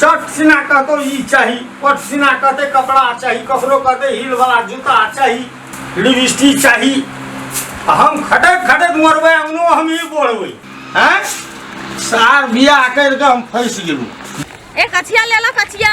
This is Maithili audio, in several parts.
चट सिना कहतो ई चाही पट सिना कहते कपड़ा चाही ककरो कहते हील वाला जूता चाही लिपस्टिक चाही आ हम खटक खटक मरबै अंगनो हम ई बोलबै हैं सार बियाह करि कऽ हम फँसि गेलहुँ ए कचिया ले लो कचिया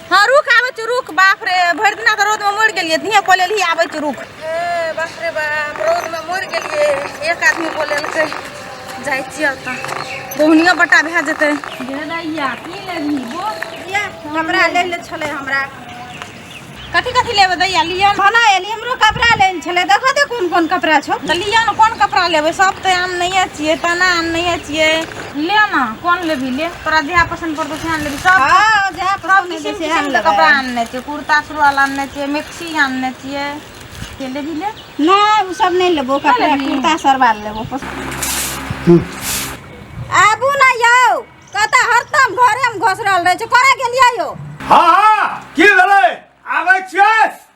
हाँ रुक आबै छी रुक बाप रे भरि दिना तऽ रौदमे मरि गेलियै धीए कऽ लेलही आबै छी रुक ए बाप रे बाप रौदमे मरि गेलियै एक आदमी बोलेलकै जाइ छियै ओतऽ बहुनियो बट्टा भए जेतै भेलैया की लेबही बोल इएह कपड़ा लै ले छलै हमरा कथी कथी लेबै दैया लिअ ने। खाना एली हमरो कपड़ा लै ले छलै देखऽ दे कोन कोन कपड़ा छौ तऽ लिअ ने कोन कपड़ा लेबै सब तऽ आम नहिए छियै तना आम नहिए छियै ले ना कौन लेबी ले तोरा जहाँ पसंद पड़तो सएह लेबी सब हाँ जहाँ सब पसंद किसिम हेतै सएह किसिम के लेबै। कपड़ा आनने छियै कुर्ता सुरुआल आनने छियै मैक्सी आनने छियै के लेबी ले नहि ओ सब नहि लेबो कपड़ा लेबही? कुर्ता सरवाल लेबो आबू ने यौ कतऽ हरदम घरेमे घोसरल रहै छै करै गेलियै यौ हाँ हाँ की भेलै आबै छियै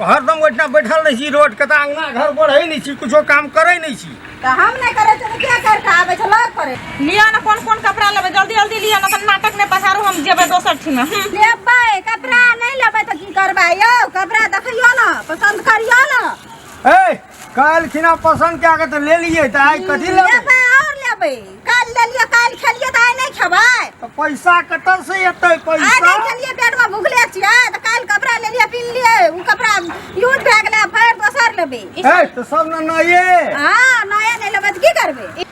हरदम ओहिठिना बैठल रहै छी रोड कतऽ अंगना घर बढ़ै नहि छी किछो काम करै नहि छी तऽ हम नहि करै छी तऽ के कर कऽ आबै छै लोग करे लिअ ने कोन कोन कपड़ा लेबै जल्दी जल्दी लिअ ने तऽ नाटक नहि पसारू हम जेबै दोसर ठिमे लेबै कपड़ा नहि लेबै तऽ की करबै यौ कपड़ा देखियौ ने पसन्द करियौ ने ए काल्हि खिना पसन्द कए के तऽ लेलियै तऽ आइ कथी लेबै लेबै और लेबै काल्हि लेलियै काल्हि खेलियै तऽ आइ नहि खेबै तऽ पैसा कतऽ से एतै आइ पैसा नहि खेलियै पेटमे भुखले छियै तऽ काल्हि कपड़ा लेलियै पिन्हलियै ओ कपड़ा यूज भए गेलै फेर दोसर लेबै ए तऽ सब ने नये हाँ नया नहि लेबै तऽ की करबै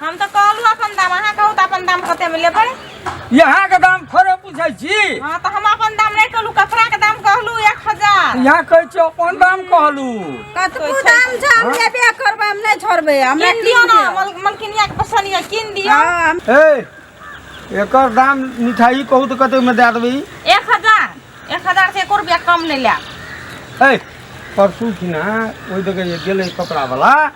हम तऽ कहलहुँ अपन दाम अहाँ कहू तऽ अपन दाम कतेमे लेबै यहाँ के दाम थोड़े पूछे छी हँ तऽ हम अपन दाम नहि कहलहुँ कपड़ाके दाम कहलहुँ एक हजार यहाँ कहे छी अपन दाम कहलू कतबो दाम छै हम लेबे करबै हम नहि छोड़बै हमरा कीन दियौ ने मल- मलकिनियाके पसन्द यऽ कीन दियौ हाँ, ए एकर दाम मिठाई कहू तऽ कते में दे देबै एक हजार एक हजार से एको रुपया कम नहीं लिया ए परसू छी ना ओहि दगे गेलै कपड़ा वाला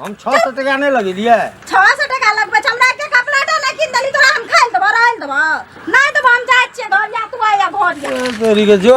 हम छओ सए टका नहि लगेलियै छओ सए टका लगबै छै हमरा के कपड़ा टा नहि कीन देली तोरा हम खाइ लए देबौ रहै लए देबौ नहि देबौ हम जाइ छियै घर या तू आइया घर या तोरी के जो